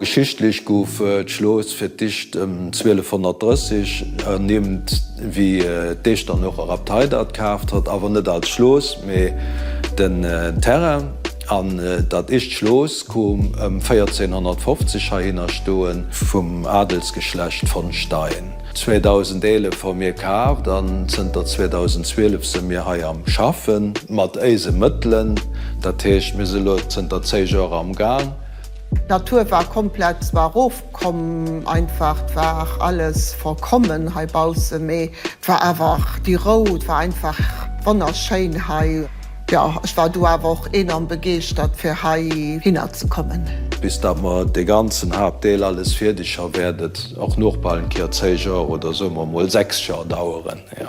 Geschichtlech gouf d'Schloss fir d'éischt ëm 1230 ernimmt, wéi d'Esch dann och erab d'Heidert kaaft hat, awer net als Schloss, mee den Terrain. An dat éischt Schloss koom ëm 1450 heihinner stoen, vum Adelsgeschlecht von Stein. 2011 hu mir kaaft an zënter 2012 si mir hei am Schaffen, mat éise Mëttelen, dat heescht mir si lo zënter 10 Joer am Gaang. D'Natur war komplett, s'war erofkomm, einfach, 't war alles vollkommen hei baussen, mee 't war awer déi Rou, 't war einfach wonnerschéin hei. Jo, ech war du awer och enorm begeeschtert fir hei hinner ze kommen. Bis dat mer de ganzen Haaptdeel alles fierdeg ha wäert et och nochbal en Kéier 10 Jours oder soe mer mol 6 Jours daueren, jo.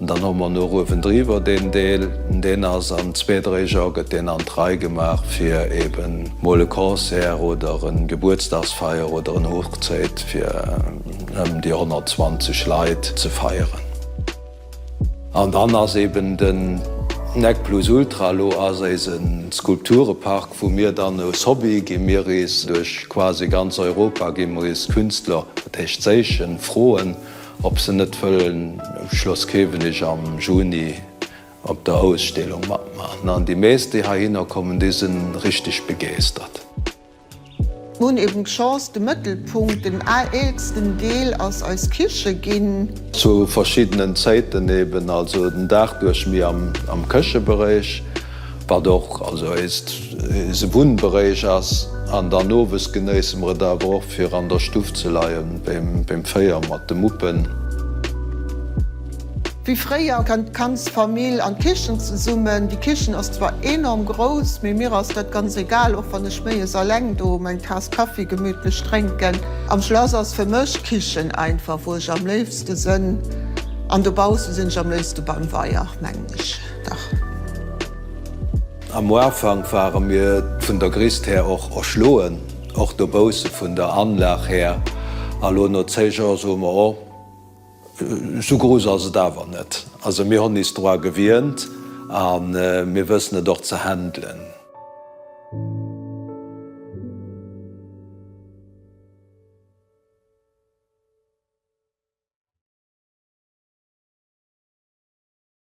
Dann hu mer nach uewendriwwer deen Deel, deen ass an zwee, dréi Jar gëtt deen an d'Rei gemaach fir eben mol e Concert oder e Gebuertsdagsfeier oder en Hochzéit fir ëm déi 120 Leit ze feieren. An dann ass eben den Nec Plus Ultra elo ass eise Skulpturepark, wou mir dann aus Hobby gi mir eis duerch quasi ganz Europa gi mer eis Künstler, dat heescht séichen, froen, Ob se net wëllen um Schloss Kewenig am Juni op der Ausstellung matmaachen. An déi meescht, déi heihinner kommen, déi sinn richteg begeestert. Mir hunn eben d'Chance, de Mëttelpunkt, den aalsten Deel ass eis Kiche ginn. Zu verschiddenen Zäiten eben, also den Dag duerch, méi am Këcheberéich. Wat och also eist eise Wunnberéich ass. An dann owes genéisse mer et awer och fir an der Stuff ze leien beim Féier mat de Muppen. Wéi fréier kënnt d'ganz Famill an d'Kichen zesummen. Déi Kichen ass zwar enorm grouss, mee mir ass dat ganz egal, och wann ech méies alleng do meng Taass Kaffi gemütlech drénken. Am Schlass ass fir mech d'Kichen einfach wou ech am léifste sënn an dobausse sinn ech am léifste beim Weier, mengen ech. Dach. Am Uafank ware mir vun der Grist här och erschloen, och dobausse vun der Anlag här. A lo no zéi Jours soe mer, oh, esou gruus ass et awer net. Also mir hunn is dra gewient a mir wëssen et och ze handelen.